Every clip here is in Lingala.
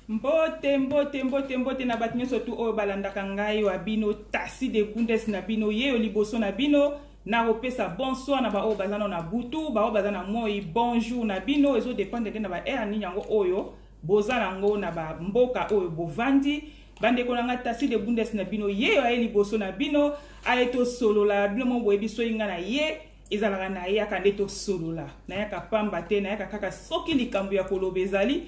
mbote mbote mbote mbote na bato nyonso tu oyo balandaka ngai wa bino tasi de gundes na bino yeyo liboso na bino nakopesa bonsoir na baoyo baza nao na butu baoyo baza na moi bonjour na bino ezodependre nde na baheure nini yango oyo boza nango na bamboka oyo bovandi bandeko na ngai tasi de bundes na bino ye oyo aye liboso na bino aye tosolola bino moko boyebi soki ngai na ye ezalaka nayaka nde tosolola nayaka pamba te nayaka kaka soki likambo ya koloba ezali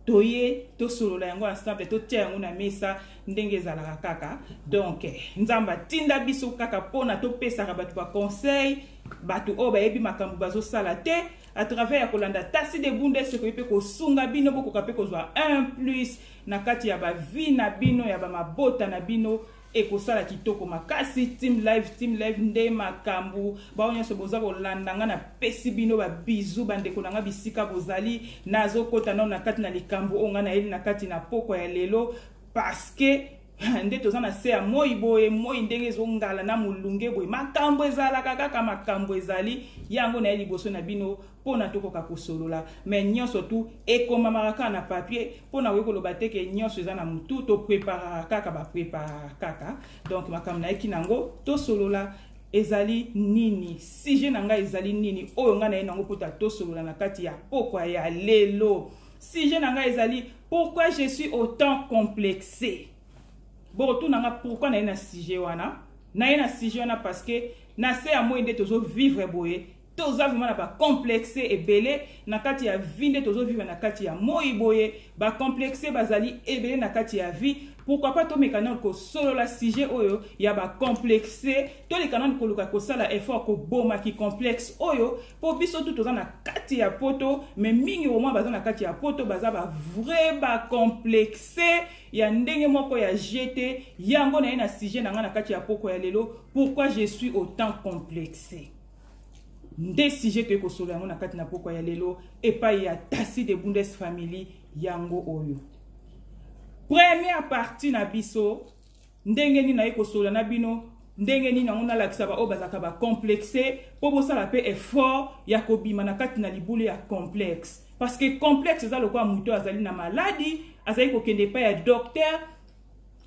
toye tosolola yango ensemble totia yango na mesa ndenge ezalaka kaka donk nzambe atinda biso kaka mpona topesaka bato baconseil bato oyo bayebi makambo bazosala te à travers ya kolanda tasi de bunda esokoki mpe kosunga bino bokoka mpe kozwa un plus na kati ya bavie na bino ya bamabota na bino ekosala kitoko makasi team live team live nde makambo bao nyonso boza kolanda nga napesi bino babizu bandeko na nga bisika bozali nazokota nao na kati na likambo oyo nga nayeli na kati na pokwa ya lelo parceke nde toza na se ya moi boye moi ndenge ezongala na molunge boye makambo ezalaka kaka makambo ezali yango naye liboso na bino mpo na tokoka kosolola me nyonso tu ekomamaka kaka na papier mpo na koki koloba te ke nyonso eza na motu topreparaka kaka bapreparaka kaka donc makambo nayeki na yango tosolola ezali nini sujet na ngai ezali nini oyo ngai naye nango mpota tosolola na kati ya pokwa ya lelo sujet na ngai ezali pourquoi je suis autant complexe bokotuna ngai pourquoi naye na sujet wana naye na sujet wana parce que na se ya moi nde tozo vivre boye toza vraiment na bacomplexe ebele na kati ya vie nde tozovivre na kati ya moi boye bacomplexe bazali ebele na kati ya vie pourquoi pas tomeka nano kosolola sujet oyo ya bacomplexe toleka nano koluka kosala effort koboma kicomplexe oyo mpo biso tu toza na kati ya poto me mingi omwa baza na kati ya poto baza bavrai bacomplexe ya ndenge moko ya je te yango na ye na sujet na ngai na kati ya poko ya lelo pourquoi je suis autant complexe nde sujet toyei kosolola yango na kati na pokwa ya lelo epai ya tasi de bundes family yango oyo première partie na biso ndenge nini naye kosolola na bino ndenge nini yango nalakisa baoyo bazalaka bacomplexe mpo bosala mpe effort ya kobima na kati na libulu ya complexe parce que complexe eza lokola moto oyo azali na maladi azali kokende epai ya docteur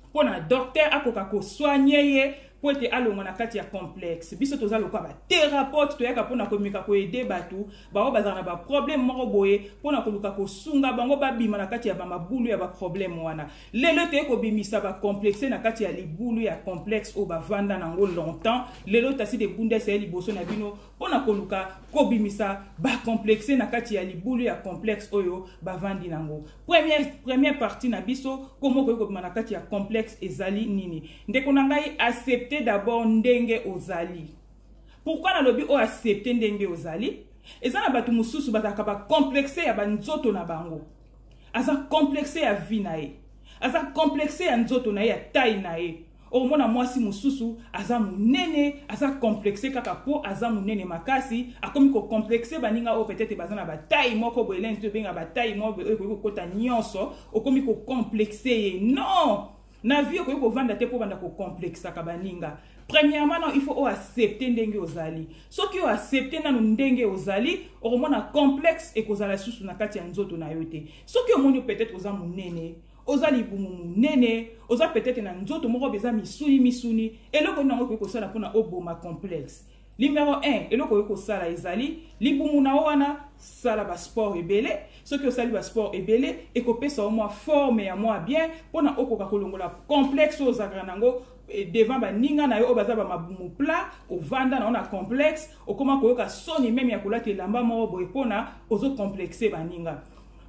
mpo na docteur akoka kosoigne ye mpo ete alongwa na kati ya complexe biso toza lokola baterapeute toyaka mpona komeka koede bato bango bazala na baproblème moko boye mpona koluka kosunga bango babima na kati ya bamabulu ya baproblème wana lelo toye kobimisa bacomplexe na kati ya libulu ya complexe oyo bavanda na yango longtemps lelo tasi de bundes eye liboso na bino mpona koluka kobimisa bacomplexe na kati ya libulu ya complexe oyo bavandi na yango Première, première partie na biso komo okoki kobima na kati ya complexe ezali nini ndeko na ngai accepte d'abord ndenge ozali pourquoi nalobi oyo accepte ndenge ozali eza na bato mosusu bazalaka bacomplexe ya banzoto na bango aza complexe ya vie na ye aza complexe ya nzoto na ye ya taille na ye okomona mwasi mosusu aza monene aza complexe kaka po aza monene makasi akomi kocomplexe baninga oyo peut-être baza na bataille moko boye lenzi to ebenga bataille moko boye oyo ekoki kokota nyonso okomi kocomplexe ye non na vie okoki kovanda te mpo banda kocomplexaka baninga premièrement non il faut oaccepte ndenge ozali soki oaccepte nano ndenge ozali okomona complexe ekozala lisusu na kati ya nzoto na yo te soki omoni peut-être oza monene oza libumu monene oza peut-être na nzoto moko beza misuni misuni eloko nini yango ekoki kosala mpona oboma complexe numero 1 eloko okoki kosala ezali libumu na yo wana sala basport ebele soki osali basport ebele ekopesa yo mwa forme ya mwa bien mpona okoka kolongola complexe oyo ozalaka na yango eh, devant baninga na yo oyo baza bamabumu plat ovanda na yo na complexe okoma koyoka soni meme ya kolata elamba moko boye mpona ozocomplexe baninga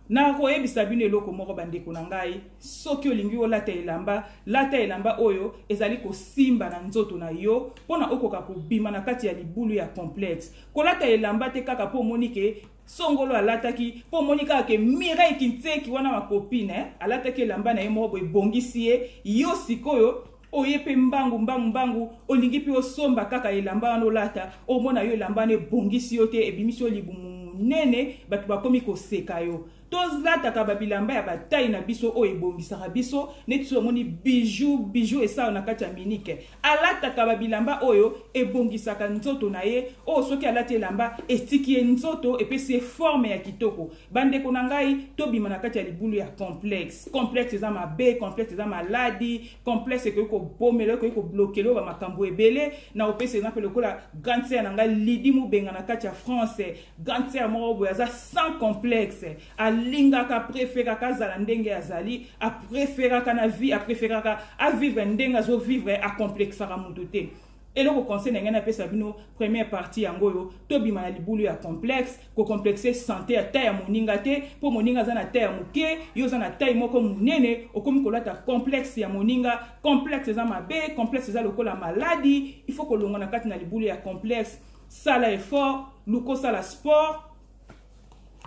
nakoyebisa bino eloko moko bandeko na ngai soki olingi olata elamba lata elamba oyo ezali kosimba na nzoto na yo mpo na okoka kobima na kati ya libulu ya complexe kolata elamba te kaka mpo omoni ke songolo alataki mpo omoni kaka ke mireille kinseki wana makopine eh? alataki elamba na ye moko boye ebongisi ye yo sikoyo oye mpe mbangu mbangu mbangu olingi mpe osomba kaka elamba wana olata omona yo elamba wana ebongisi yo te ebimisi yo libumu monene bato bakomi koseka yo tolataka babilamba ya batai na biso oyo ebongisaka biso neti so omoni bijou bijou esala na kati ya minike alataka babilamba oyo ebongisaka nzoto na ye oyo soki alati elamba etiki ye nzoto epesi ye forme ya kitoko bandeko na ngai tobima na kati ya libulu ya complexe complexe eza mabe complexe eza maladi complexe ekoki kobomela ekoki koblokela oyo bamakambo ebele na kopesa exemple lokola grande sere na ngai lidi mobenga na kati ya france grande sere moko boye aza sans complexe alingaka apreferaka azala ndenge azali apreferaka na vie apreferaka avivre ndenge azovivre akomplexaka moto te eloko conseil na ngai napesa bino première partie yango oyo tobima na libulu ya complexe kocomplexe sante ya tai ya moninga te mpo moninga aza na tai ya moke yo oza na tai moko monene okomi kolata complexe ya moninga complexe eza mabe complexe eza lokola maladi il faut kolongwa na kati na libulu ya complexe sala effort luka osala sport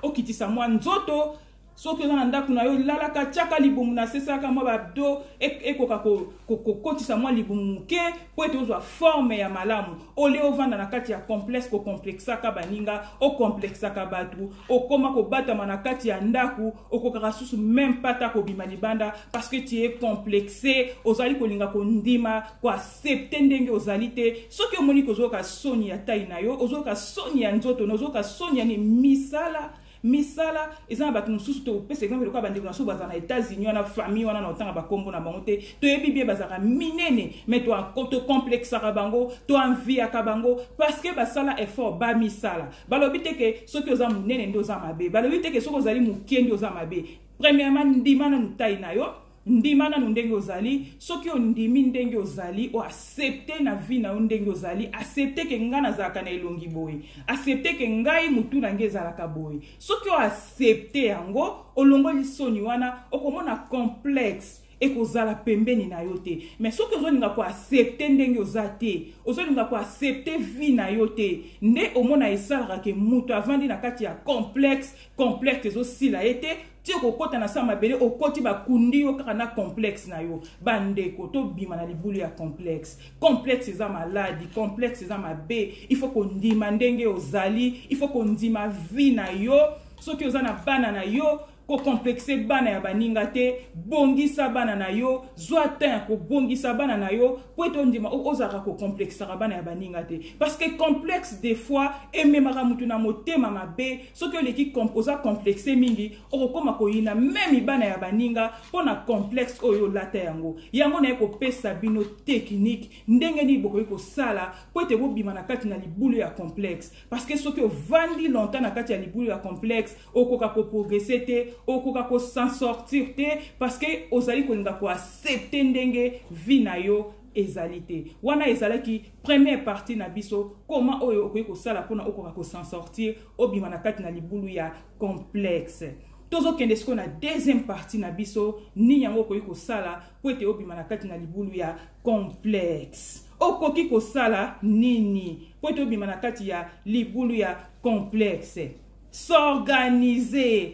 okitisa mwa nzoto soki oza na ndako na yo lalaka tiaka libumu na se salaka mwa babdo ekoka kokotisa mwa libumu moke mpo ete ozwa forme ya malamu olie ovanda na kati ya complexe kokomplexaka baninga okomplexaka bato okoma kobatama na kati ya ndako okokaka susu meme pata kobima libanda parce que tie complexe ozali kolinga kondima koaccepte ndenge ozali te soki omoni kozoyoka soni ya tai na yo ozoyoka soni ya nzoto na ozoyoka soni ya misala misala eza na bato mosusu topesa exemple lokola bandeko na so bazala na états-unis wana famille wana na otanga bakombo na bango te toyebi bie bazalaka minene mai tocomplexaka bango toenviaka bango parce que basala effort bamisala balobi te ke soki oza monene nde oza mabe balobi te ke soki ozali moke nde oza mabe premièrement ndima na motai na yo ndima nanu ndenge ozali soki ondimi ndenge ozali o accepte na vie na yo ndenge ozali accepte ke ngai nazalaka na elongi boye accepte ke ngai motu na ngai ezalaka boye soki oaccepte yango olongoli soni wana okomona complexe ekozala pembeni na yo te mais soki ozolinga koaccepte ndenge oza te ozolinga koaccepte vie na yo te nde omona esalaka ke moto avandi na kati ya complexe complexe ezosila ye te ti okokɔta na se ya mabele okɔti bakundi yo kaka na complexe na yo bandeko tobima na libulu ya complexe complexe eza maladi complexe eza mabe il faut kondima ndenge ozali il faut kondima vie na yo soki oza na bana na yo kokomplexe bana ya baninga te bongisa bana na yo zwa temps ya kobongisa bana na yo mpo ete ondima ozalaka kokomplexaka bana ya baninga te parce que complexe des fois ememaka motu na motema mabe soki oleki oza complexe mingi okokoma koyina meme bana ya baninga mpo na complexe oyo olata yango yango naye kopesa bino tekinike ndenge nini bokoki kosala mpo ete bobima na kati na libulu ya complexe parceke soki ovandi longtemps na kati ya libulu ya complexe okoka koprogrese te okoka kosan sortir te parceke ozali kolinga koaccepte ndenge vi na yo ezali te wana ezalaki première partie na biso koma oyo okoki kosala mpona okoka kosan sortir obima na kati na libulu ya complexe tozokende sikoyo na deuxième partie na biso nini yango okoki kosala mpo ete obima na kati na libulu ya complexe okoki kosala nini mpo ete obima na kati ya libulu ya complexe s'organiser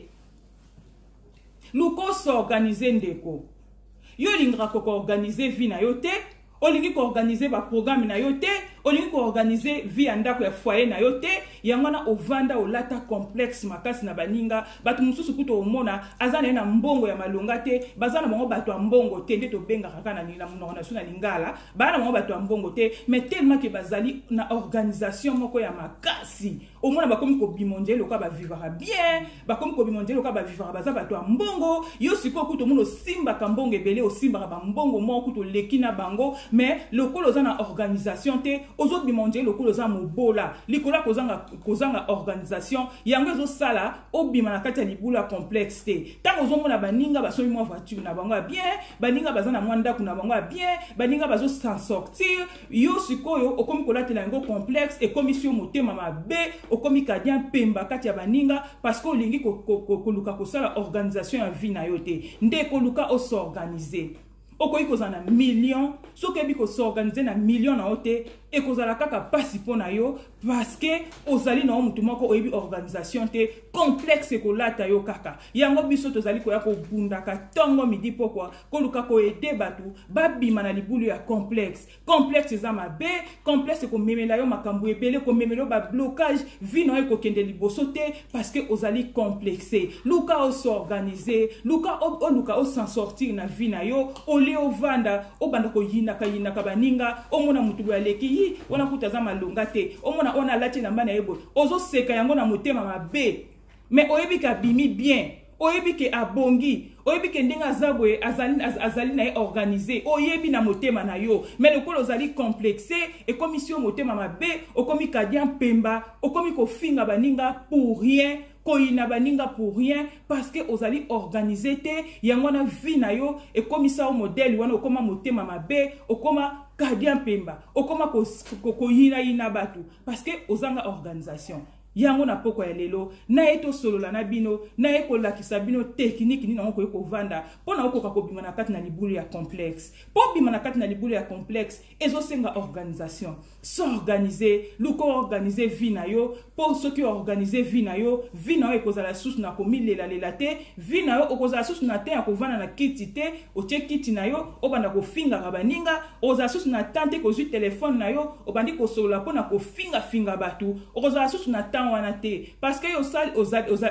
luka osorganize ndeko yo olingaka kokoorganize vie na yo te olingi koorganize baprograme na yo te olingi koorganize vie ya ndako ya foye na yo te yango wana ovanda olata complexe makasi na baninga bato mosusu kuta omona aza na ye na mbongo ya malonga te baza na bango bato ya mbongo te nde tobengaka kaka na monoko na biso na lingala baa na bango bato ya mbongo te mais tellement ke bazali na organisation moko ya makasi omona bakomi kobima ondie lokola bavivaka bien bakomi kobima ondie lokola bavivaka baza bato ya mbongo yo sikoyo kutu omona osimbaka mbongo ebele osimbaka bambongo moko kutu oleki na bango mais lokola oza na organisation te ozobima ondie lokola oza mobola likolo ya kozanga, kozanga organisation yango ezosala obima na kati ya libulu ya complexe te ntango ozomona baninga basomi mwa voiture na bango ya bien baninga baza na mwa ndako na bango ya bien baninga bazosan sortir yo sikoyo okomi kolatela yango complexe ekomisi yo motema mabe okomi kadia mpemba kati ya baninga parce que olingi koluka kosala organisation ya vie na yo te nde koluka osorganize okoki kozala na million soki oyebi kosorganize na million na yo te ekozala kaka mpasi mpo na yo parce que ozali na yo motu moko oyebi organisation te complexe ekolata yo kaka yango biso tozali koya kobundaka ntongo midi pokwa koluka koede bato babima na libulu ya complexe complexe eza mabe complexe ekomemela yo makambo ebele ekomemela yo bablocage vi na yo ekokende liboso te parce que ozali complexe luka osorganize luka oluka osan sortir na vie na yo olie ovanda obanda koyinaka yinaka baninga omona motu boye aleki yi wana kuta aza malonga te omona wana alati elamba na ye boye ozoseka yango na motema mabe mais oyebi ke abimi bien oyebi ke abongi oyebi ke ndenge aza boye azali, az, azali na ye organise oyebi na motema na yo me lokola ozali complexe ekomisi yo motema mabe okomi kadia mpemba okomi kofinga baninga pour rien koyina baninga pour rien parce que ozali organise te yango wana vie na yo ekomisa yo modele wana okoma motema mabe okoma kadia mpemba okoma koyinayina ko, ko, bato parce que ozanga organisation Yango na pokwa ya lelo, naye tosolola na bino, naye kolakisa bino tekiniki nini yango koki kovanda mpo na okoka kobima na kati na libulu ya complexe. Mpo bima na kati na libulu ya complexe, ezosenga organisation. S'organiser, luka organiser vie na yo, mpo soki organiser vie na yo, vie na yo ekozala lisusu na komilelalela te, vie na yo okozala lisusu na temps ya kovanda na kiti te, otie kiti na yo obanda kofingaka baninga ozala susu na temps te kozwi telefone na yo obandi kosolola mpo na kofingafinga bato okozala susu na temps wana te parce que osali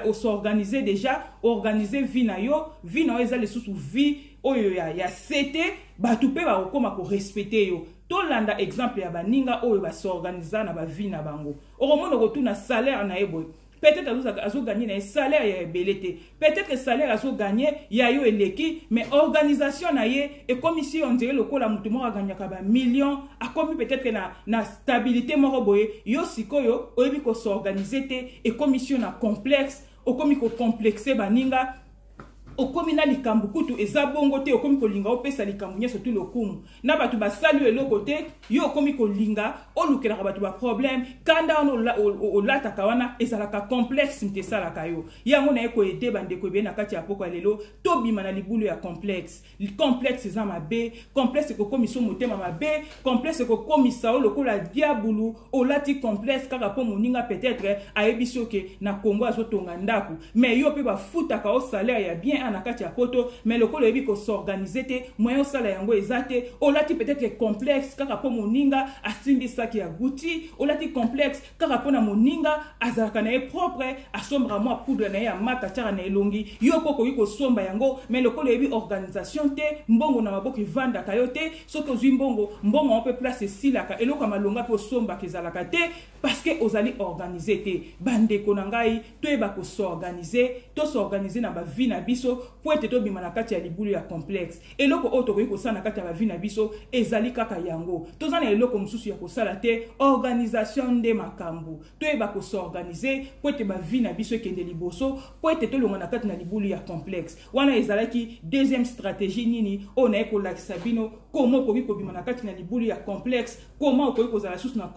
osorganize déjà organise vie na yo vie na yo eza lisusu vie oyo ya, ya se te bato mpe bakokoma korespecte yo tolanda exemple ya baninga oyo basorganiza na bavie na bango okomona okotuna salaire na ye boye peut-être azozaka azo gagner na ye salaire ya ebele te peut-être salaire azo gagner ya yo eleki mais organisation na ye ekomisi yo ondire lokola moto moko aganyaka bamillion akomi peut-être na, na stabilité moko boye yo sikoyo oyebi kosorganize te ekomisi yo na complexe okomi kocomplexe baninga okomi na likambo kutu eza bongo te okomi kolinga opesa likambo nyonso tu lokumu na bato basali eloko te yo okomi kolinga olukelaka bato baproblème kanda wana olataka wana ezalaka complexe moto esalaka yo yango naye koede bandeko ebele na kati ya poko ya lelo tobima na libulu ya complexe complexe eza mabe complexe ekokomisa yo motema mabe complexe ekokomisa yo lokola diabulu olati complexe kaka mpo moninga peut-être ayebisi yo ke na congo azotonga ndako mais yo mpe bafutaka yo salaire ya bien a na kati ya poto mais lokola oyebi kosorganize te moyen osala yango eza te olati peut-être complexe kaka mpo moninga asimbisaki ya guti olati complexe kaka mpo na moninga azalaka na ye propre asombaka mwa poudre na ye ya mata atyaka na elongi yo mpo okoki kosomba yango mai lokola oyebi organisation te mbongo na maboko evandaka yo te soki ozwi mbongo mbongo yango mpe place esilaka eloko ya malonga mpe osombaka ezalaka te parceke ozali organise te bandeko na ngai toyeba ko s'organiser to s'organiser na bavie na biso mpo ete tobima na kati ya libulu ya complexe eloko oyo tokoki kosala na kati ya bavie na biso ezali kaka yango toza na eloko mosusu ya kosala te organisation nde makambo toyeba ko s'organiser mpo ete bavie na biso ekende liboso mpo ete tolonga na kati na libulu ya complexe wana ezalaki deuxième stratégie nini oyo naye kolakisa bino koma okoki kobima na kati na libulu ya complexe koma okoki kozala susu na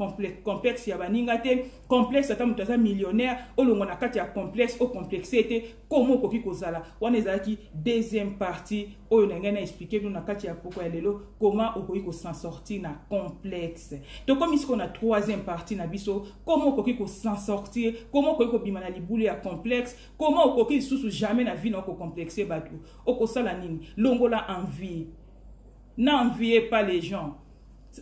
complexe ya baninga te complexe ata moto aza millionnaire olongwa na kati ya complexe o complexe ete komo okoki kozala wana ezalaki deuxième partie oyo na ngai na explike bino na kati ya poko ya lelo koma okoki kosan sorti na complexe tokomi sikoyo na troisième partie na biso koma okoki kosan sortir koma okoki kobima na libulu ya complexe koma okoki lisusu jamais na vie na okocomplexe bato okosala nini longola envie na envie pas les gens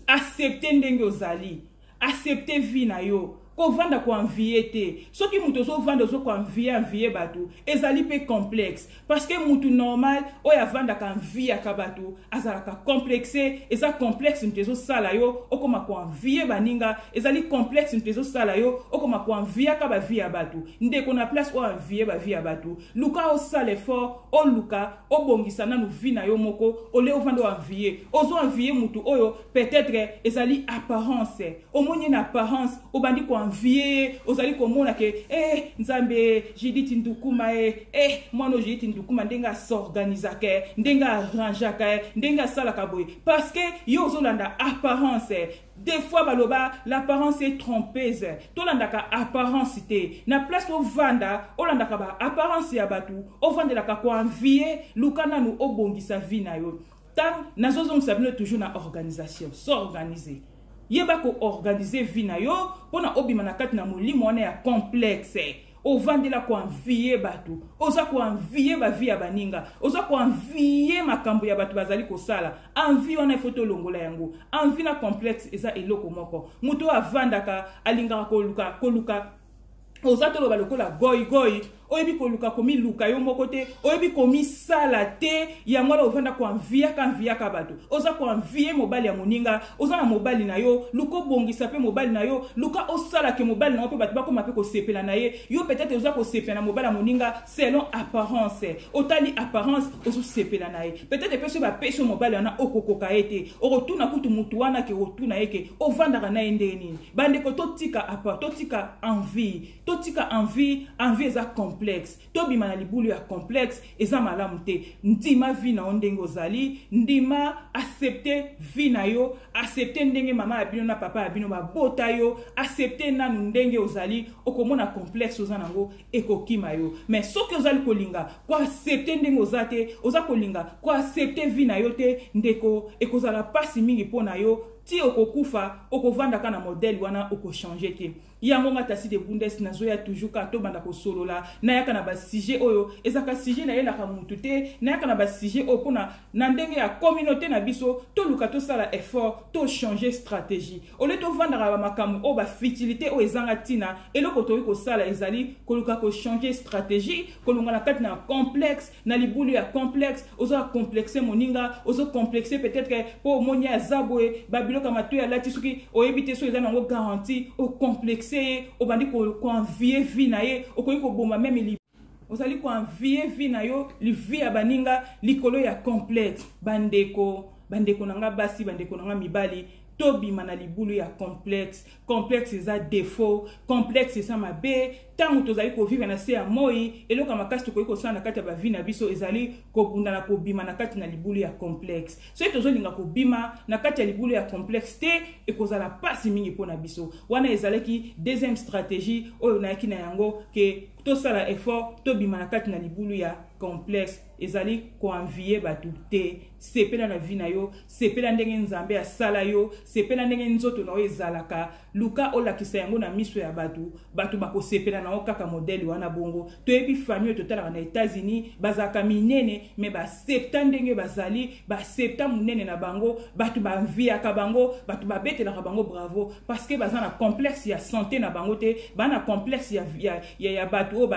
accepte ndenge ozali accepte vie na yo kovanda koenvie te soki moto ozovanda ozo koenvie envie bato ezali mpe complexe parce que moto normal oyo avandaka enviaka bato azalaka complexe eza complexe moto ezosala yo okoma koenvie baninga ezali complexe moto ezosala yo okoma koenviaka bavi ya bato ndeko na place oyo envie bavi ya bato luka osala effort oluka obongisa nanu vi na yo moko ole ovanda oenvie ozo envie moto oyo peut-être ezali apparence omoni ye na apparence obandi koenvie ye ozali komona ke eh, nzambe jiditi ndukuma e eh, eh, mwana oyo jiditi ndukuma ndenge asorganisaka eh, ndenge arrangeaka eh, ndenge asalaka boye parce que ye ozolanda apparence eh, des fois baloba l'apparence est trompeuse tolandaka apparence te na place ovanda olandaka baapparence ya bato ovandelaka koenvie luka nanu obongisa vi na yo Tango nazo zongisa bino toujours na organisation, s'organiser. Yeba ko organiser vie na yo pona obima na kati na molimo wana ya complexe. ovandela koanviye bato oza koanviye bavi ya baninga oza koanviye makambo ya bato bazali kosala anvi wana ifo tolongola yango anvi na complexe eza eloko moko moto oyo avandaka alingaka koluka koluka oza toloba lokola goigoi oyebi koluka komiluka yo moko te oyebi komisala te yango wana ovanda koanviyaka nviyaka bato oza koanviye mobali ya moninga oza na mobali na yo luka obongisa mpe mobali na yo luka osalake mobali na yo mpe bato bakoma mpe kosepela na ye yo petete oza kosepela na mobali ya moninga selon apparence otali apparence ozosepela na ye peut-être mpe soki bapesi yo mobali wana okokoka ye te okotuna kutu motu wana ke otuna ye ke ovandaka na ye ndenge nini bandeko totika apa totika envie totika envie envie eza complexe tobima na libulu ya complexe eza malamu te ndima vi na yo ndenge ozali ndima accepte vi na yo accepte ndenge mama ya bino na papa ya bino babota yo accepte nanu ndenge ozali okomona complexe oza na yango ekokima yo mais soki ozali kolinga koaccepte ndenge oza te oza kolinga koaccepte vie na yo te ndeko ekozala mpasi mingi mpo na yo ti okokufa okovandaka na modele wana okochange te yango nga tasi de bundes nazoya toujours kaka tobanda kosolola nayaka na basujet oyo ezalaka sujet nayelaka mutu te nayaka na basujet oyo mpona na ndenge ya communauté na biso toluka tosala effort tochange stratégie ole tofandaka na bamakambo oyo bafitilite oyo ezanga ntina eloko tokoki kosala ezali koluka kochange stratégie kolonga na kati na complexe na libulu ya complexe ozoa complexe moninga ozo complexe peut-être ke mpo omoni aza boye babiloko ya matoi alati soki oyebi te soki eza nango garanti ocomplexe ye obandi koenvie vie na ye okoki koboma meme ozali koenvie vie na yo livie ya baninga likolo ya complexe bandeko bandeko na nga basi bandeko na nga mibali tobima na libulu ya complexe complexe eza defaut complexe eza mabe ntango tozali kovivre na se ya moi eloko ya makasi tokoki kosala na kati ya bavi na biso ezali kobunda na kobima na kati na libulu ya complexe soki tozolinga kobima na kati ya libulu ya complexe te ekozala mpasi mingi mpo na biso wana ezalaki deuxième stratégie oyo nayaki na yango ke tosala effort tobima na kati na libulu ya complexe ezali koenvie bato te sepela na vi na yo sepela ndenge nzambe asala yo sepela ndenge nzoto na yo ezalaka luka olakisa yango na miso ya bato bato bakosepela na yo kaka modele wana bongo toyebi famille oyo totalaka na etats-unis bazalaka minene me septa ndenge bazali basepta monene na bango bato banviaka bango bato babetelaka bango bravo parceke baza na complexe ya sante na bango te baa na complexe ya, ya, ya, ya bato oyo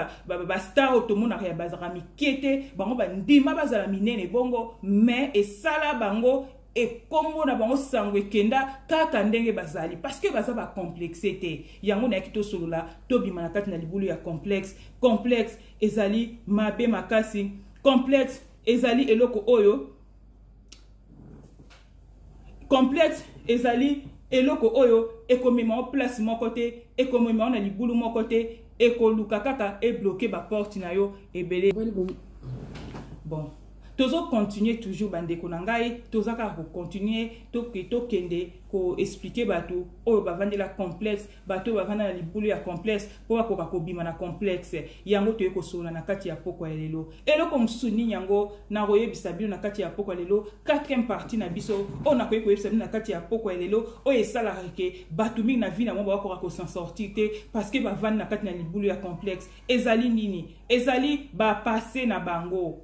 bastar oyo tomonaka ya bazalaka mike te bango bandima bazala minene bongo mais esala bango ekombo na bango sango ekenda kaka ndenge bazali parceke baza bacomplexe te yango nayaki tosolola tobima na kati na libulu ya complexe complexe ezali mabe makasi complexe ezali eloko oyo complexe ezali eloko oyo ekomema o place moko te ekomema o na libulu moko te ekoluka kaka ebloke baporte na yo ebele bon tozokontinue toujours bandeko na ngai toza kaka kokontinue tokende koexplike bato oyo bavandela complexe bato oyo bavanda na libulu ya complexe mpo bakoka kobima na complexe yango toye kosolola na kati ya pokwa ya lelo eloko mosusu nini yango nakoyebisa bino na kati ya pokwa ya lelo 4 partie na biso oyo nakoki koyebisa bino na kati ya pokwa ya lelo oyo esalaka ke bato mingi na vi na bango bakoka kosan sortir te parce que bavandi na kati na libulu ya complexe ezali nini ezali bapase na bango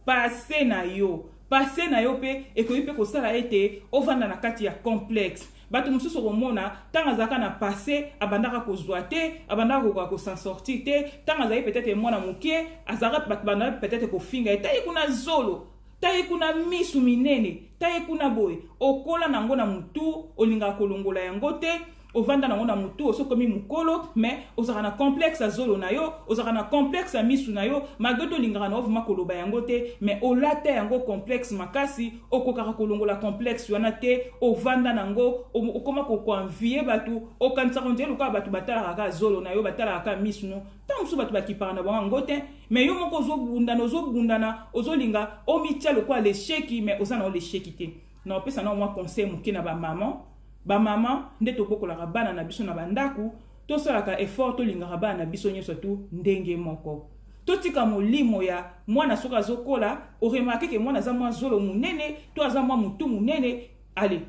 passe na yo passe na yo mpe ekoki mpe kosala ete ovanda na kati ya complexe bato mosusu okomona ntango azalaka na passe abandaka kozwa te abandaka kokoka kosan sortir te ntango azali peut-être mwana moke azalaka bato bandaka peut-être kofinga ye taye kuna zolo taye kuna misu minene taye kuna boye okola na yango na motu olingaka kolongola yango te ovanda nango na motu oso komi mokolo mais ozalaka na complexe ya zolo na yo ozalaka na complexe ya misu na yo malgre tolingaka na ovuma koloba yango te mais olata yango complexe makasi okokaka kolongola complexe wana te ovanda nango okoma kokoanvie bato okanisaka ondie lokola bato batalaka kaka zolo na yo batalaka kaka misu no ntango mosusu bato bakipaka na bango yango te mais yo moko ozobundana ozobundana ozolinga omitya lokola lesheki mais oza na yo lesheki te na opesa nao mwa conseil moke na bamama bamama nde tobokolaka bana na biso na bandako tosalaka effort tolingaka bana na biso nyonso tu ndenge moko totika molimo ya mwana soki azokola oremarke ke mwana aza mwa zolo monene to aza mwa motu monene ale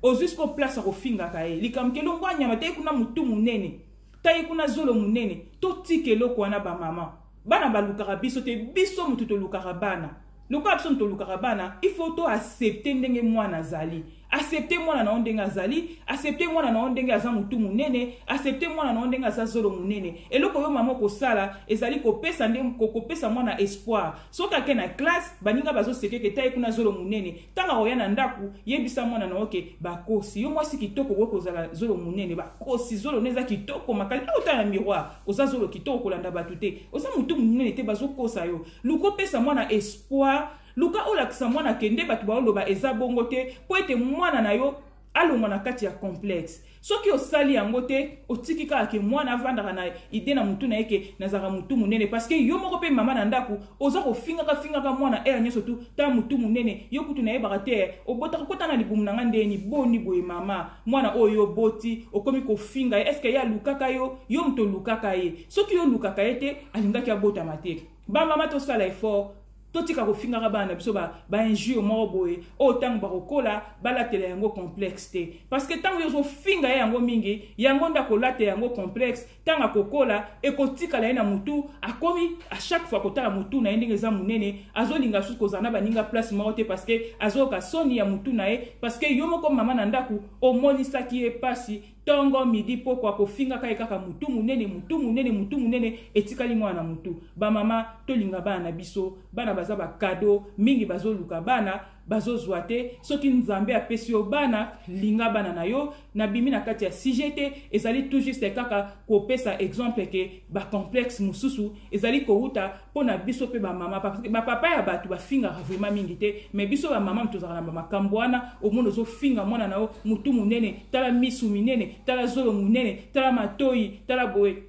ozwi siko place ya kofingaka ye likambo kelongwa nyama taye kuna motu monene taye kuna zolo monene totika eloko wana bamama bana balukaka biso te biso motu tolukaka bana lokola biso motu tolukaka bana il faut to accepte ndenge mwana azali accepte mwana na yo ndenge azali accepte mwana na yo ndenge aza motu monene accepte mwana na yo ndenge aza zolo monene eloko yo mama okosala ezali kopesa nde kopesa mwana espoir soki ake na classe baninga bazosekeke taye kuna zolo monene ntango akoya na ndako yebisa mwana na yo ke bakosi yo mwasi kitoko okoki kozala zolo monene bakosi zolo ne eza kitoko makasi okotala na miroir oza zolo kitoko kolanda bato te oza motu monene te bazokosa yo luka opesa mwana espoir luka olakisa mwana ke nde bato baoloba eza bongo te mpo ete mwana na yo alongwa na kati ya complexe soki osali yango te otiki kaka ke mwana avandaka na ide na motu na ye ke nazalaka motu monene parceke yo moko mpe mama na ndako oza kofingaka fingaka mwana ere nyonso tu ta motu monene yo kutu nayebaka te obotaka kota na libumu na ngai ndeni boni boye mama mwana oyo yo boti okomi kofinga ye eske ye alukaka yo yo moto olukaka ye soki yo olukaka ye te alingaki abotama te bamama tosala effort totika kofingaka bana na biso bainjure ba moko boye oyo ntango bakokola balatela yango complexe te parce que ntango yo ozofinga ye yango mingi yango nde akolata yango complexe ntango akokola ekotikala ye na motu akomi a chaque fois kotala motu na ye ndenge eza monene azolinga susu kozala na baninga place moko te parce que azoyoka soni ya motu na ye parce que yo moko mama na ndako omonisaki ye mpasi ntongo midi pokwa kofingaka ye kaka motu monene motu monene motu monene etikali mwana na motu bamama tolinga bana na biso bana baza bakado mingi bazoluka bana bazozwa te soki nzambe apesi yo bana linga bana na yo nabimi na kati ya sujet te ezali tout juste kaka kopesa exemple ke bacomplexe mosusu ezali kowuta mpo na biso mpe bamama bapapa ya bato bafingaka vraimen mingi te me biso bamama tozalaka na bamakambo wana omona ozofinga mwana na yo motu monene tala misu minene tala zolo monene tala matoi tala boye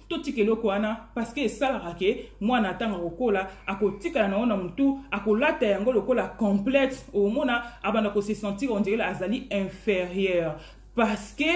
totika eloko wana parceke esalaka ke mwana atanga kokola akotikala na yango na motu akolata yango lokola complexe omona abanda kose sentir ondirele azali inférieur parceke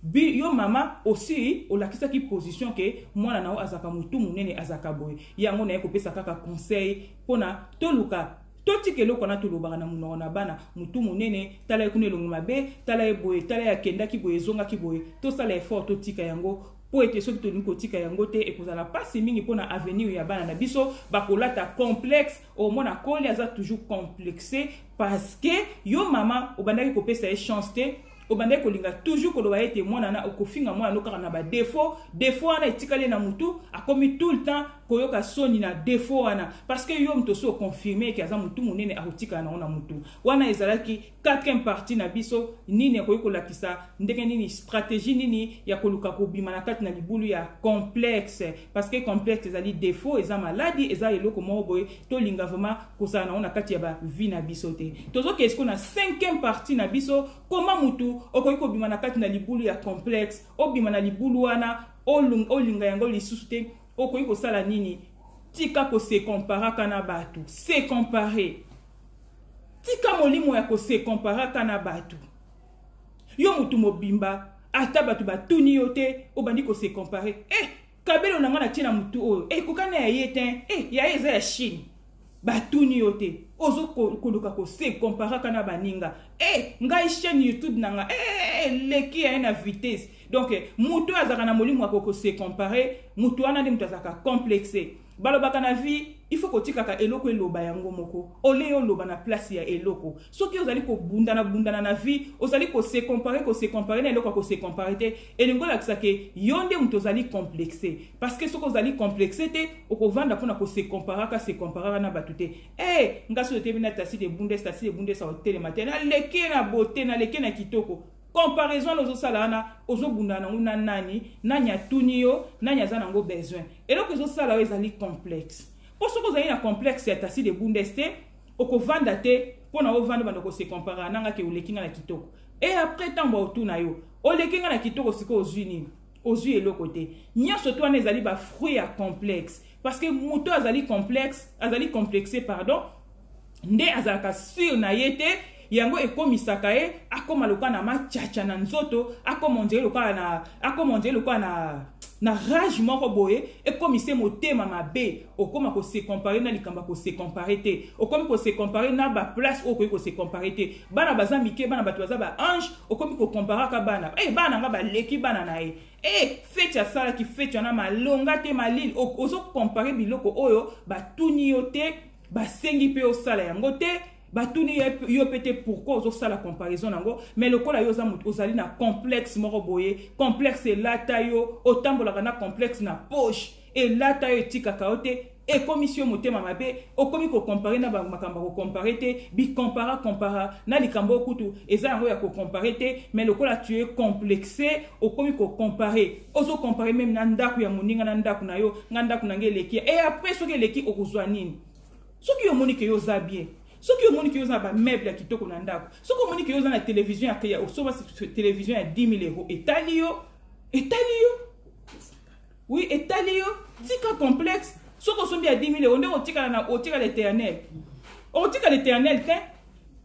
bi yo mama osi olakisaki position ke mwana na yo azalaka motu monene azalaka boye yango naye kopesa kaka conseil mpona toluka totika eloko wana tolobaka na monoko na bana motu monene tala ye kuna elongi mabe tala ye boye tala ye akendaki boye ezongaki boye tosala effort totika yango mpo ete soki tolingi kotika yango te ekozala mpasi mingi mpo na avenir ya bana na biso bakolata complexe omona koli aza toujours complexe parce que yo mama obandaki kopesa ye chance te obandaki kolinga toujours koloba ete mwana na okofinga mwana no kaka na badefaut defaut wana etikali na motu akomi tout le temps koyoka soni na defaut wana parce que yo moto osi oconfirme eke aza motu monene akotikala nango na motu wana ezalaki quatrième partie na biso nini ekoki kolakisa ndenge nini stratégie nini ya koluka kobima na kati na libulu ya complexe parce que complexe ezali défaut eza maladi eza eloko moko boye tolinga vraiment kozala nango na kati ya bavie na biso te tozokei siko na cinquième partie na biso koma mutu okoki kobima na kati na libulu ya complexe obima na libulu wana olinga yango lisusu te okoki kosala nini tika kosekomparaka na bato se comparer tika molimo ya kose comparaka na bato yo motu mobimba ata bato batuni yo te obandi kose compare e eh, kabelo na ngai natie na motu oyo eh, ekokani ya ye te e eh, ya ye eza ya chine batuni yo te ozo koluka kose comparaka na baninga e ngai chaîne youtube na ngai eleki ya ye na vitesse donc moto oyo azalaka na molimo ya kokose compare moto wana nde moto azalaka complexe balobaka na vie il faut kotikaka eloko eloba yango moko ole oloba na place ya eloko soki ozali kobundana bundana na vie ozali kose compare kose compare na eloko ya kose compare te elingi olakisa ke yo nde moto ozali complexe parce que soki ozali complexe te okovanda mpona kose comparaka se comparaka na bato te e eh, hey, nga soki otebi na tasi de bundes tasi de bundes aotelema te naleki na bote naleki na kitoko comparaison ozosala wana ozobundana nango na nani nani atuni yo nani aza nango besoin eloko ezosala yo ezali complexe mpo soki ozali na complexe ya tasi de bundes te okovanda te mpo na ovanda banda kosekomparaka na nga ke oleki nga na kitoko e apres ntango baotuna yo oleki nga na kitoko sikoyo ozwi nini ozwi eloko te nyonso to wana ezali bafruit ya complexe parce que moto azali complexe azali complexe pardon nde azalaka sur na ye te yango ekomisaka ye akoma lokola na machacha na nzoto akoma ondele lokola na akoma ondele lokola na na rage moko boye ekomisi motema mabe okoma kosecompare na likambo ya kosecompare te okomi kosecompare na baplace oyo okoki kosecompare te bana baza mike bana bato baza baange okomi kokomparaka bana e bana na nga baleki bana na ye e feti asalaki feti wana malonga te malili ozokompare biloko oyo batuni yo te basengi mpe osala yango te batuni yo mpe te pourkui ozosala comparaison na yango mai lokola yo ozali na complexe moko boye complexe elata yo otambolaka na complexe na poche elata yo etikaka yo te ekomisi yo motema mabe okomi kokompare na makambo ya kokompare te bikompara kompara na likambo okutu eza yango ya kokompare te mai lokola tu es complexe okomi kokompare ozo compare meme na ndako ya moninga na ndako na yo nga ndako na nga eleki e après soki eleki okozwa nini soki omoni ke yo oza bien soki omoni ke yo oza na bameuble ya kitoko na ndako soki omoni ke yo oza na televizio ya osoba televizio ya 10 000 euro etali yo etali yo oui etali yo tika complexe soki osombi ya 10 000 euro nde otikala na otikala eternel okotikala eternel te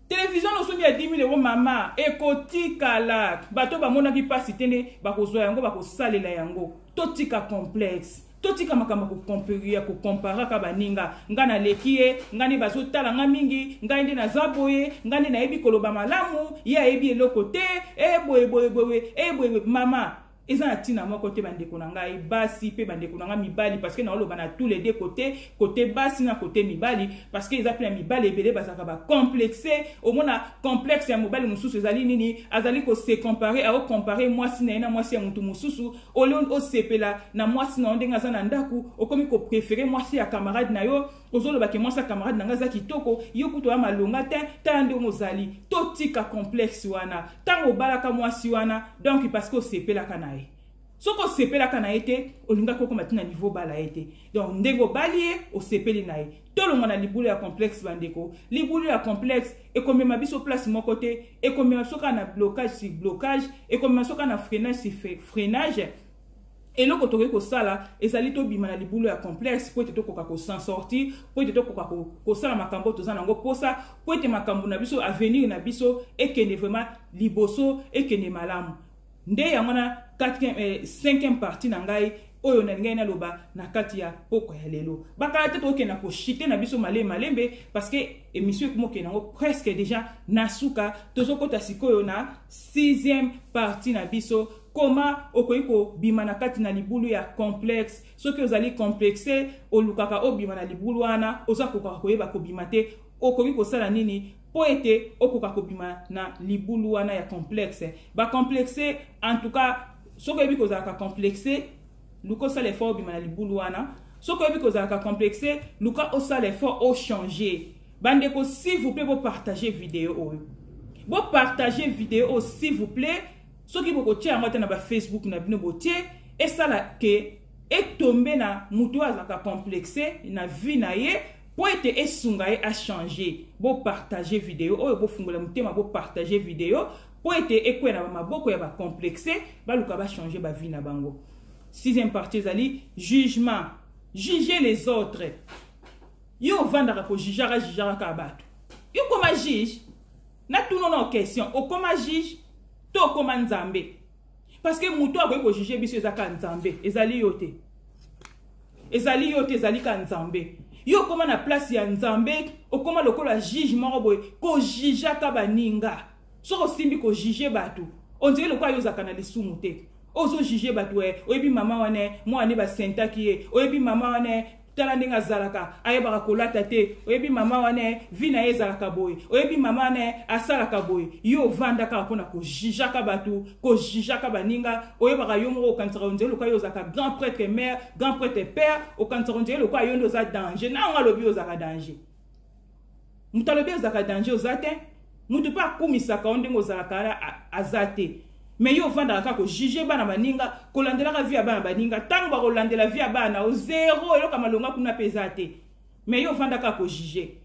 television nosungi ya 10 euro mama ekotikala bato bamonaki mpasi te nde bakozwa yango bakosalela yango totika complexe totika makambo ya kokomparaka baninga ngai naleki ye ngai nde bazotala ngai mingi ngai nde naza boye ngai nde nayebi koloba malamu ye ayebi eloko te eboyeboyeboye eh, eboyeboye eh, mama eza na ntina moko te bandeko na ngai basi mpe bandeko na ngai mibali parceke naoloba na tous les deux kote kote basi na kote mibali parceke eza mpe na mibali ebele bazalaka bacomplexe omona complexe ya mobali mosusu ezali nini azali kose compare aocompare mwasi na ye na mwasi ya motu mosusu olio osepela na mwasi na yo ndenge aza na ndako okomi koprefere mwasi ya camarade na yo ozoloba ke mwasi ya camarade na ngai aza kitoko yo kutu oya malonga te tala ndenge ozali totika complexe wana ntango obalaka mwasi wana donk parceke osepelaka na ye soki osepelaka na ye te olingaki okoma ti na niveau obala ye te donc ndenge obali ye osepeli na ye tolongwa na libulu ya complexe bandeko libulu ya complexe ekomema biso place moko te ekomema biso kaka na blocage sur blocage ekomema biso kaka na freinage sur freinage eloko tokoki kosala ezali tobima na libulu ya complexe mpo ete tokoka kosan sorti mpo ete tokoka kosala makambo oyo toza nango mposa mpo ete makambo na biso avenir na biso ekende vraiment liboso ekende malamu nde yango na 5e eh, partie na ngai oyo nalingaki naloba na kati ya pokwa ya lelo bakala te tokokenda koshite na biso malembe malembe parce que émission ekoma okende yango presque déjà na suka tozokɔta sikoyo na 6e partie na biso Koma okoki kobima na kati na libulu ya complexe soki ozali complexe olukaka obima na libulu wana oza kokaka koyeba kobima te okoki kosala nini mpo ete okoka kobima na libulu wana ya complexe bacomplexe en tout cas soki oyebi kozalaka complexe luka osala effort obima na libulu wana soki oyebi kozalaka complexe luka osala effort ochange bandeko s'il vous plaît bopartage video oyo bopartage video oyo s'il vous plaît soki bokotia yango ata na bafacebook na bino botie esala ke etombe na moto oyo azalaka complexe na vie na ye mpo ete esunga ye achange bopartage video oyo bofungola motema bopartage video mpo ete ekwea na bamaboko ya bacomplexe baluka bachange bavie na bango sixième partie ezali jugement juger les autres yo ovandaka kojijaka jijaka kaka bato yo koma juge Na tuno na question, okoma juge to okoma nzambe? Parce que muto akoki ko juger biso eza ka nzambe, ezali yo te. Ezali yo te, ezali ka nzambe. Yo okoma na place ya nzambe, okoma lokola juge moko boye, ko juger ka baninga. Soko simbi ko juger bato, on dirait lokola yo ozaka na lisumu te. ozojuge bato e oyebi mama wana mwana nde basentaki ye oyebi mama wana tala ndenge azalaka ayebaka kolata te oyebi mama wana eh, vi na ye ezalaka boye oyebi mama wana eh, asalaka boye yo ovanda kaka mpo na kojijaka bato kojijaka baninga oyebaka yo moko okanisaka onzeli lokola yo ozalaka grand prêtre mare grand prêtre père okanisaka onzeli lokola yo nde oza danger na yango alobi ozalaka danger moto alobi ozalaka danger oza te moto mpe akumisaka yo ndenge ozalaka wana aza te me yo ofandaka kaka kojuge bana baninga kolandelaka vi ya bana baninga ntango bakolandela vi ya bana o zero eloko ya malonga kuna mpe eza te me yo ofandaka kaka kojuge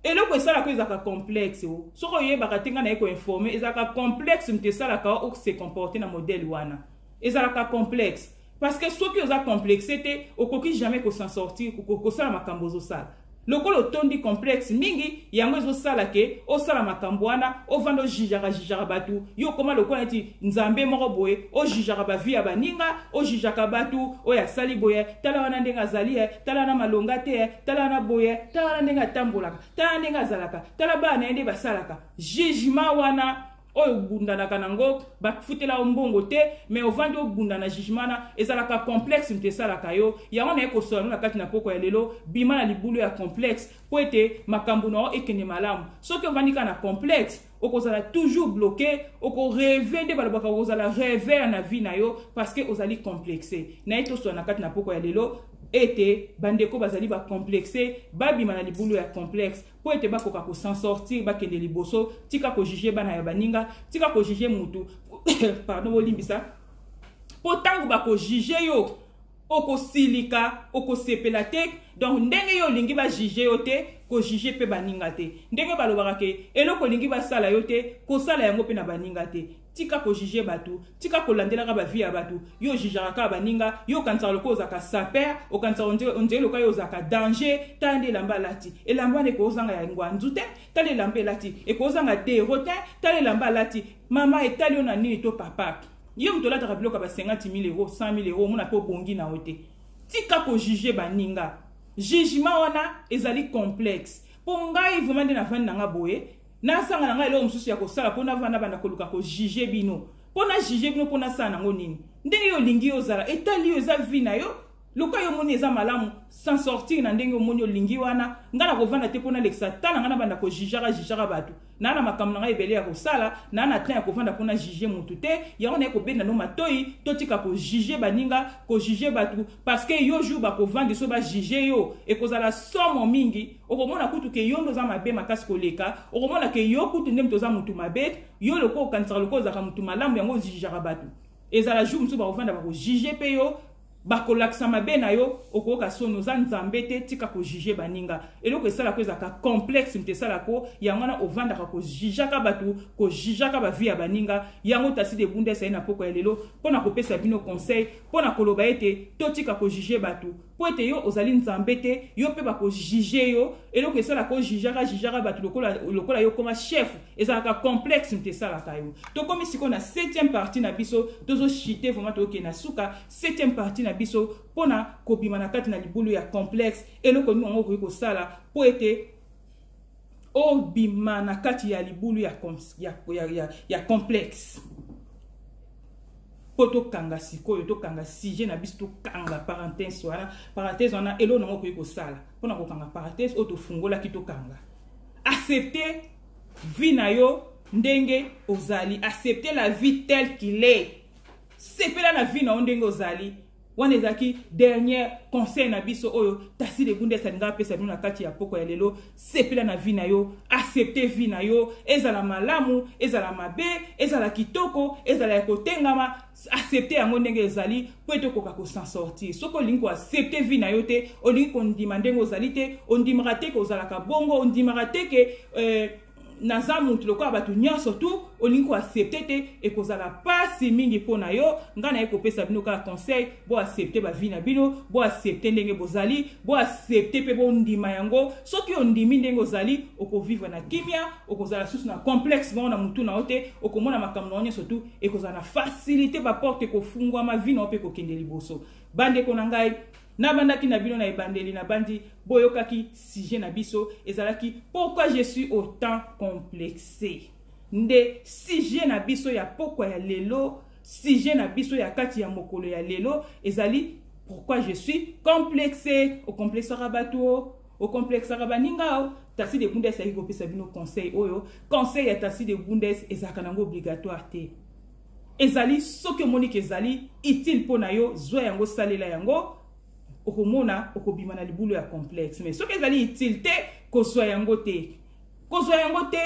eloko esalaka yo ezalaka complexe o soki oyebaka te ngai naye koinforme ezalaka complexe moto esalaka o se comporte na modele wana ezalaka complexe parce que soki oza complexe te okoki jamais ko s'en sortir kosala makambo ozosala lokola otondi complexe mingi yango ezosala ke osala makambo wana ovanda ojijaka jijaka bato yo okoma lokola neti nzambe moko boye ojijaka bavi ya baninga ojijaka bato oyo asali boye tala wana ndenge azali ye tala wana malonga te ye tala wana boye tala wana ndenge atambolaka tala wana ndenge azalaka tala bana na ye nde basalaka jugement wana oyo obundanaka nango bafutela yo mbongo te mais ovandi obunda na jugement na ezalaka complexe moto esalaka yo yango naye kosola no na kati na poko ya lelo bima na libulu ya complexe mpo ete makambo na yo ekende malamu soki ovandi kaka na complexe okozala toujours bloqué okoreve nde balobaka okozala revere na vie na yo parce que ozali complexe naye tosola na kati na poko ya lelo ete bandeko bazali bacomplexe babima na libulu ya complexe mpo ete bakoka ko s'en sortir bakende liboso tika kojuge bana ya baninga tika kojuge mutu pardon bolimbisa mpo ntango bakojuge yo okosilika okosepela te donc ndenge yo olingi bajuge yo te kojuge mpe baninga te ndenge balobaka ke eloko olingi basala yo te kosala yango mpe na baninga te Tika ko juger batu, tika ko landelaka ba vie ya batu. Yo ojijaka kaka baninga, yo okanisaka lokola ozalaka saper, okanisaka onde onde lokola yo ozalaka danger. Tala nde elamba alati. Elamba wana ekozanga ya ngwanzu te, tala elamba elati. Ekozanga dero te, tala elamba alati. Mama etali yo na nini to papa? Yo moto olataka biloko ya ba 50 000 euros, 100 000 euros, omona pe obongi na yo te. Tika ko juger baninga. Jugement wana ezali complexe. Po ngai vraiment nde navandi na nga boye, nazanga na ngai eloko mosusu ya kosala mpo navanda banda koluka kojuge bino mpo na juge bino mpo nasala nango nini ndenge yo olingi yo ozala etali yo eza vi na yo loka yo omoni eza malamu sans sortir na ndenge omoni olingi wana ngai nakovanda te mpo nalekisa tala ngai nabanda kojijaka jijaka bato naa na makambo na ngai ebele ya kosala naa na temps ya kovanda mpo na juge motu te yango naye kobenda no matoi totika kojuge baninga kojuge bato parce que yo jour bakovandi so bajuge yo ekozala somo mingi okomona kutu ke yo nde oza mabe makasi koleka okomona ke yo kutu nde moto oza motu mabe yo lokola okanisaka lokola ozalaka motu malamu yango ozijijaka bato ezala jour mosusu bakofanda bakojuge mpe yo bakolakisa mabe na yo okoyoka soni oza nzambe te tika kojuge baninga eloko esalako ezalaka complexe moto esalako yango wana ovandaka kojujaka bato kojujaka bavi ya baninga yango tasi de bunda esali na poko ya lelo mpo na kopesa bino conseil mpo na koloba ete totika kojuge bato mpo ete yo ozali nzambe te yo mpe bakojuge yo eloko esalaka ojujaka jujaka bato lokola, lokola yo koma chef ezalaka complexe moto esalaka yo tokomi sikoyo na 7e partie na biso tozochite vraimen tookende na suka 7e partie na biso mpo na kobima na kati na libulu ya complexe eloko nini yango okoki kosala mpo ete obima na kati ya libulu ya, ya, ya, ya, ya complexe mpo tokanga sikoyo tokanga sujet na biso tokanga parenthèse wana parenthèse wana eloo nango okoki kosala mpo na kokanga parenthèse oyo tofungolaki tokanga accepte vie na yo ndenge ozali accepte la vie telle qu'il est sepela na vie na yo ndenge ozali wana ezalaki dernier conseil na biso oyo tasi legundes alinga apesa bino na kati ya poko ya lelo sepela na vie na yo accepte vie na yo ezala malamu ezala mabe ezala kitoko ezala ya kotengama accepte yango ndenge ezali mpo ete okoka kosan sortir soki olingi koaccepte vie na yo te olingi kondima ndenge ozali te ondimaka te ke ozalaka bongo ondimaka te ke euh, naza mutu lokola bato nyonso tu olingi koaccepte te ekozala mpasi mingi mpo na yo ngai naye kopesa bino kaka conseil boaccepte bavi na bino boaccepte ndenge bozali boaccepte mpe bondima yango soki ondimi ndenge ozali okovivre na kimia okozala susu na complexe moko na motu na yo te okomona makambo na yo nyonso tu ekozala na facilité baporte ekofungwama vi na yo mpe ekokende liboso bandeko na ngai Nabandaki na bino na ebandeli nabandi boyokaki sujet na biso ezalaki pourquoi je suis autant complexe nde sujet na biso ya pokwa ya lelo sujet na biso ya kati ya mokolo ya lelo ezali pourquoi je suis complexe okomplexaka bato o okomplexaka baninga o tasi de bundes ayaki kopesa bino conseil oyo conseil ya tasi de bundes ezalaka nango obligatoire te Ezali soki omoni ke ezali utile mpo na yo zwa yango salela yango okomona okobima na libulu ya complexe mais soki ezali utile te kozwa yango te kozwa yango te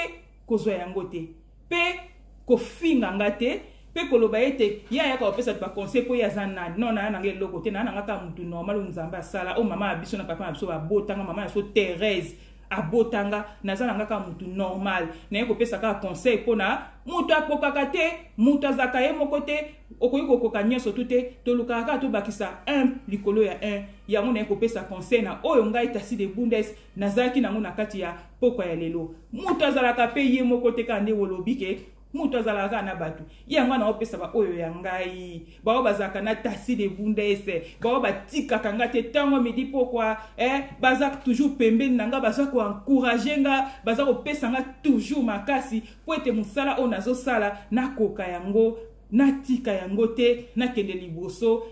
kozwa yango te mpe kofinga nga te mpe koloba ete ye ayaka kopesa bato baconseil mpo ye aza nani no naya nanga eloko te naya nanga kaka motu normal oyo nzambe asala oyo mama ya biso na papa na biso babotanga mama ya biso therese abota nga naza na nga kaka motu normal naye kopesa kaka conseil mpo na moto akokaka te moto azalaka ye moko te okoki kokoka nyonso tu te tolukaka kaka tobakisa 1 likolo ya 1 yango naye kopesa conseil na oyo ngai tasi de bundes nazalaki nango na kati ya pokwa ya lelo moto azalaka mpe ye moko te kaka nde olobi ke moto azalaka kaka na bato ye yango ana opesa baoyo ya ngai baoyo bazalaka na tasi de bunda ese baoyo batikaka ngai te ntango midi pokwa eh, baza toujours pembeni na ngai baza koencourage ngai baza kopesa ngai toujours makasi mpo ete mosala oyo nazosala nakoka yango natika yango te nakende liboso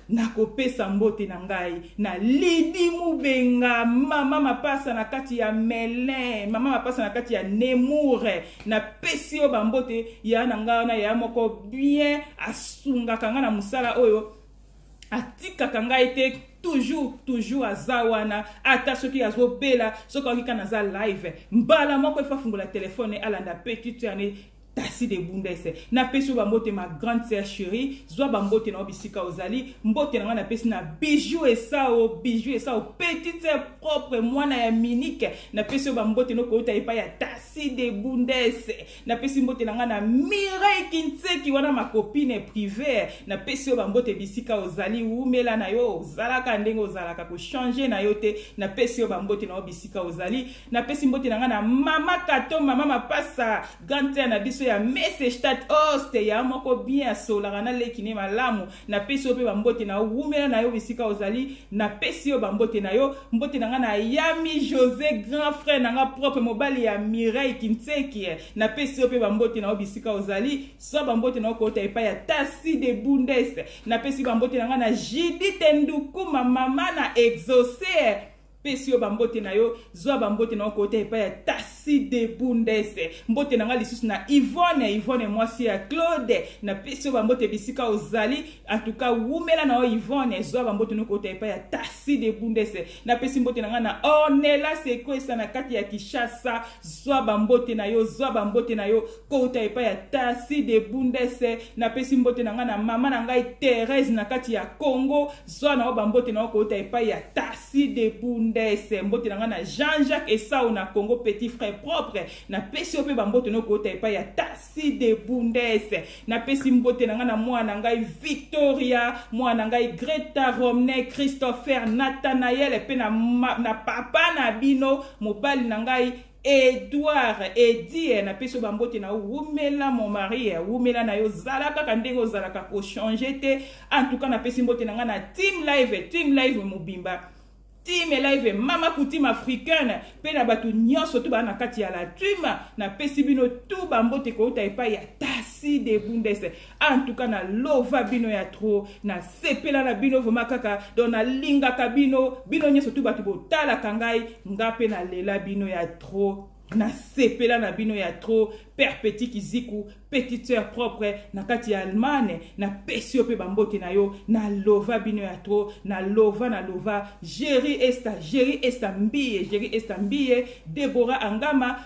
nakopesa mbote na ngai na lidi mubenga mama mapasa na kati ya melin mama mapasa na kati ya nemoure napesi yo bambote ya na ngai wana ya moko bien asungaka ngai na mosala oyo atikaka ngai te toujours toujours aza wana ata soki azobela soki aoki kana aza live mbala moko efafungola telefone alanda petite ane tasi de bundese napesi yo bambote ma grande sœur chérie zwa bambote na yo bisika ozali mbote na ngai napesi na bijou esao bijou esao petite sœur propre mwana ya minike napesi yo bambote nokouta epai ya tasi de bundese napesi mbote na ngai na mirei kinseki wana makopine prive napesi yo bambote bisika ozali wumela na yo ozalaka ndenge ozalaka kochange na yo te napesi yo bambote na yo bisika ozali napesi mbote na ngai na mama kato mama mapasa grande sere na biso ya mesestat oste oh, ya moko bien asolaka na leki ne malamu napesi yo mpe bambote na yo wumela na yo esika ozali napesi yo bambote na yo mbote na ngai na yami josé grand frère na ngai propre mobali ya mireille kinseki napesi yo mpe bambote na yo bisika ozali swa bambote na yo kouta epai ya tasi de bundes napesi bambote na ngai na jidite ndukuma mama na exaucer pesi yo bambote na yo zwa bambote na yo kota epai ya tasi de bundes mbote na ngai lisusu na ivone ivone mwasi ya claude napesi yo bambote bisika ozali antuka wumela na yo ivone zwa bambote no kota epai ya tasi de bundes napesi mbote na ngai na ornela sekwesa na kati ya kishasa zwa bambote na yo zwa bambote na yo kouta epai ya tasi de bundese napesi mbote na ngai na mama na ngai therese na kati ya congo zwa na yo bambote na yo kouta epai ya tasi de bundese mbote na ngai na jean jacques esau na congo petit frère propre napesi yo mpe bambote na yo kouta epai ya tasi de bundese napesi mbote na ngai na mwana na ngai victoria mwana na ngai greta romne christopher nathanael mpe na, na papa na bino mobali na ngai Edouard Edie na peso ba mbote na wumela mon mari eh, wumela na yo zala kaka ndenge ozalaka ko changer te en tout cas na pesi mbote na nga na team live team live mobimba team live mama coutume africaine pe na bato nyonso to ba na kati ya la team na pesi bino tout ba mbote kouta epai ya tasi de bundes en tout cas na lova bino ya trop na sepela na bino vraiment kaka donc nalingaka bino bino nyonso tu bato botalaka ngai nga mpe nalela bino ya trop nasepela na bino ya trop père petit kiziku petite sœur propre na kati ya allemagne napesi yo mpe bambote na yo na lova bino ya trop na lova na lova géri esta géri esta mbiye géri esta mbiye debora angama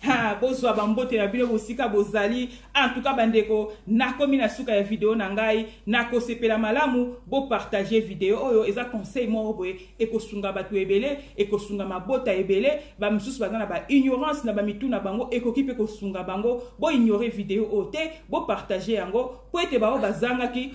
ha bozwa bambote na bino bosika bozali antuka bandeko nakomi na suka ya video na ngai nakosepela malamu bopartage video oyo eza conseil moko boye ekosunga bato ebele ekosunga mabota ebele bamosusu baza na baignorance na bamitu na bango ekoki mpe kosunga bango boignore video oyo te bopartage yango mpo ete baoyo bazangaki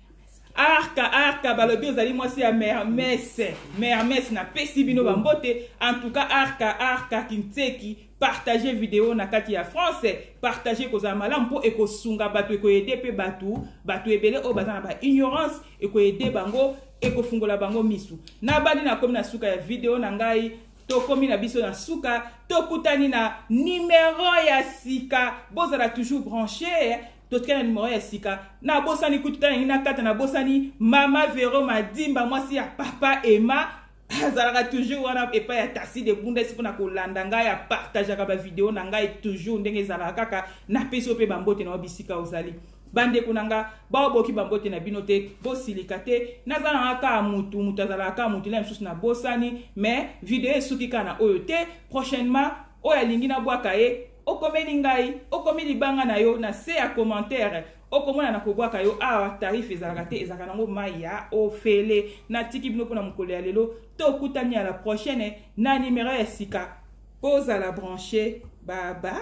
arka arka balobi ozali mwasi ya mermes mermes napesi bino bambote en tout cas arka arka kinseki partage video na kati ya france partage ekozala malamu mpo ekosunga bato ekoyede mpe bato bato ebele oyo baza na baignorance ekoyede bango ekofungola bango misu nabandi nakomi na suka ya video na ngai tokomi na biso na suka tokutani na nimero ya sika bozala toujours branche totika na numero ya sika nabosani kutu ta nangi nakata nabosani mama vero madimba mwasi ya papa ema azalaka toujours wana epai ya tasi de bunda esi mpona kolanda ngai apartageaka bavideo na ngai toujours ndenge ezalaka kaka napesi yo mpe bambote na yo bisika ozali bandeko na nga baoboki bambote na bino te bosilika te naza nanga kaka mutu mutu azalaka kaka mutu na mosusu nabosani mais video esuki kaka na oyo te prochainement oyo alingi nabwaka ye okomeli ngai okomi libanga na yo na se ya commentaire okomona na kobwaka yo awa tarif ezalaka te ezalaka nango mai ya ofele natiki bino mpona mokolo ya lelo tokutani ya la prochaine na nimero ya sika bozala branche babai